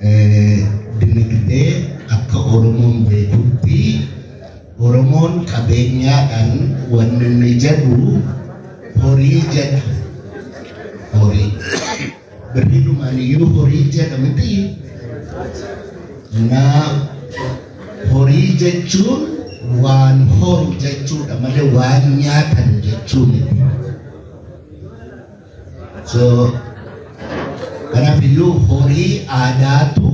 Dinagdee, Akka Oromoon beekutti Oromoon qabeenyaadhaan wanni inni jedhu horii jedha. Horii. Birriidhumaan iyyuu horii jedha miti. Na horii jechuun waan horu jechuudha malee waan nyaatan jechuu miti. So kanaaf iyyuu horii aadaatu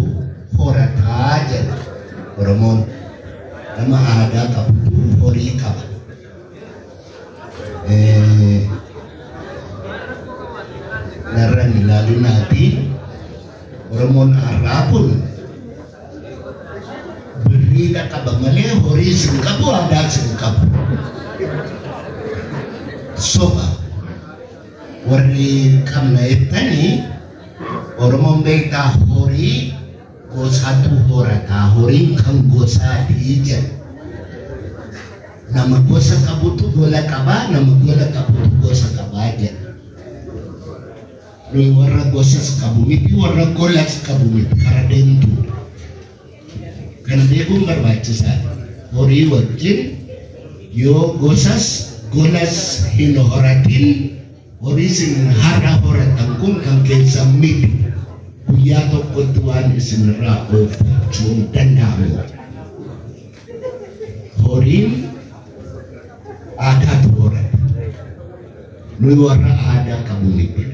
horataa jedha Oromoon. Nama aadaa qabutu horii qaba. Eh, Narra hin ilaalinaatii Oromoon har'aa kun Birriidha qaba malee horii sin qabu aadaa sin qabu. Soba warri qabna jettanii Oromoon beektaa horii gosaatu horataa horiin kan gosaatii jedha. Nama gosa qabutu gola qabaa nama gola qabutu gosa qabaa jedha. Nuyi warra gosas qabu miti, warra golas qabu miti, kara deemtuudha. Kana beekuun barbaachisaadha. Horii wajjin yoo gosas golas hin horatin horii isin har'a horatan kun kan keessan miti. Guyyaa tokkotti waan isinirraa oolfachuun danda'amu. Horiin aadaatu horata. Nuyi warra aadaa qabu miti.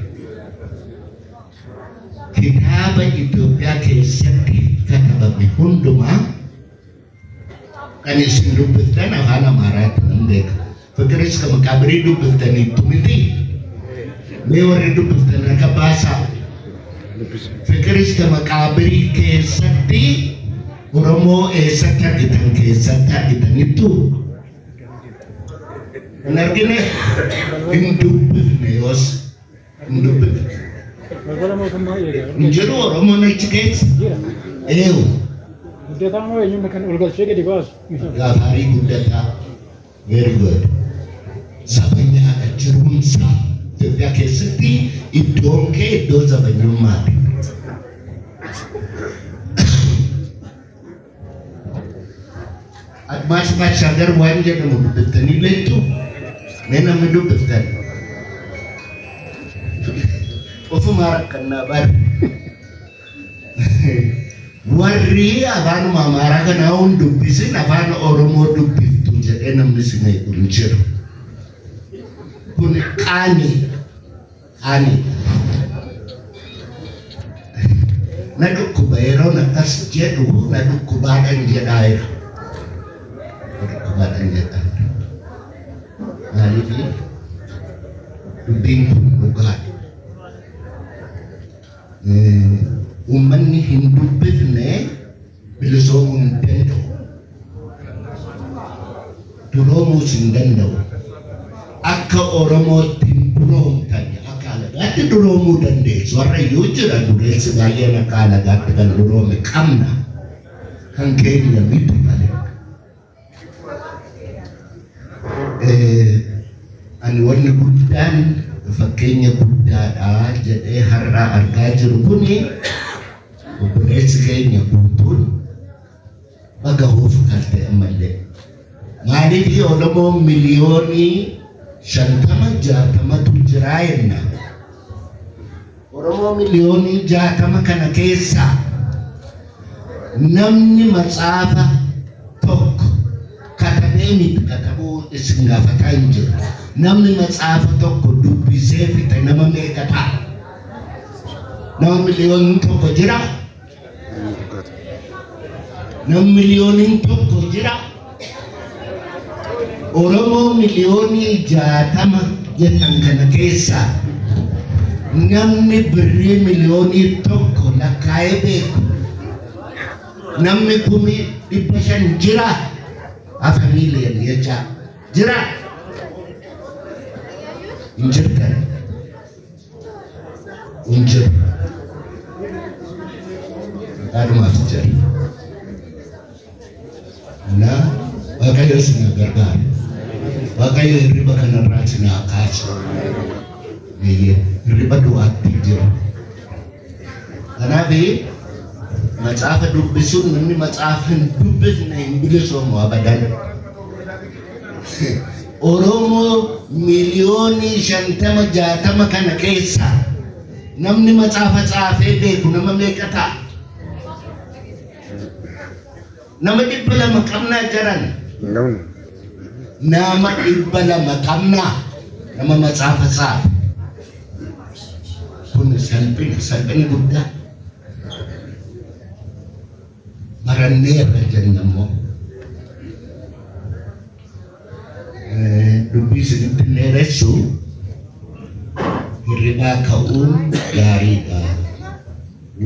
Kitaaba Itoophiyaa keessatti katabame hundumaa kan isin dubbiftan afaan Amaaraatti hin beeku. Faqiriska maqaabirii dubbiftaniittu miti. Mee warri dubbiftan harka baasaa. Faqiriska maqaabirii keessatti Oromoo eessatti argitan keessatti argitanittu. Hin argine hin dubbifne yoos hin dubbifne. Balbala mootummaa eegaa. Hin jiru Oromoon achi keessa. Eewu Guddataa moo eenyuun kan ol galchee gadi baasu? gaafarii guddataa. Very good. Zabanyaa dha jiruun isaa Itoophiyaa keessatti iddoon kee iddoo zabanyummaati. Admaas Baashaagar waan jedhamu dubbiftanii beektu mee namni dubbiftan. Ofumaa rakkannaa bara. Warri afaanuma Amaaraa kanaa hin dubbisin afaan Oromoo dubbiftu jedhee namni si meequ hin jiru. Kun qaanii qaanii na dhukkuba yeroon akkas jedhu na dhukkubaadhan jedhaa jira. Na dhukkubaadhan jedhaa jira. Maaliif dubbiin kun dhugaadha. Uummanni hin dubbifne bilisoomuu hin danda'u. Duroomuus hin danda'u. Akka Oromootti hin duroomtan akka alagaatti duroomuu dandeessu. Warra iyyuu jira dureessi baay'een akka alagaatti kan duroome qabna. Kan keenya miti malee. Ani wanni guddaan fakkeenya guddaadha jedhee har'aa argaa jiru kun obboleessi keenya guutuun baga hoofu kalte ammallee. Maaliif Oromoo miliyoonii shantama jaatamatu jiraa jenna. Oromoo miliyoonii jaatama kana keessaa namni matsaafa tokko katabee miti katabuu isin gaafataa hin jiru. Namni matsaafa tokko dubbisee fixe nama meeqa ta'a? Nama miliyoonni tokko jira. Nam miliyooniin tokko jira. Oromoo miliyoonii jaatama jedhan kana keessaa namni birrii miliyoonii tokko lakkaa'ee beeku namni kumii dhibba shan jira hafa miiliyan jechaa jira hin jirtan hin jiru. Adhumaaf jedhe. Na Waaqayyo isin na gargaara. Waaqayyo hirriba kanarraa isin haa kaasu. Eeyyee, hirriba du'aatti hin jiru. Kanaaf macaafa dubbisuun namni macaafa hin dubbisne hin bilisoomu abadan. Oromoo miliyoonii shantama jaatama kana keessa namni macaafa caafee beeku nama meeqa ta'a? Nama dhibba lama qabnaa jaran. Nun. Nama dhibba lama qabnaa. Nama matsaafa tsaafe. Kun salphina, salphina guddaa. Barannee irra jenna immoo. Dubbii isinitti hin dheeressu hirribaa ka'uun gaariidha.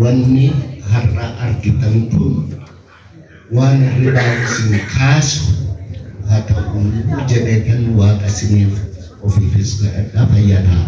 Wanni har'a argitan kun waan hirribaa isin kaasu haa ta'u jedheetan waaqa isiniif ofiifis kadhadha fayyaa ta'a.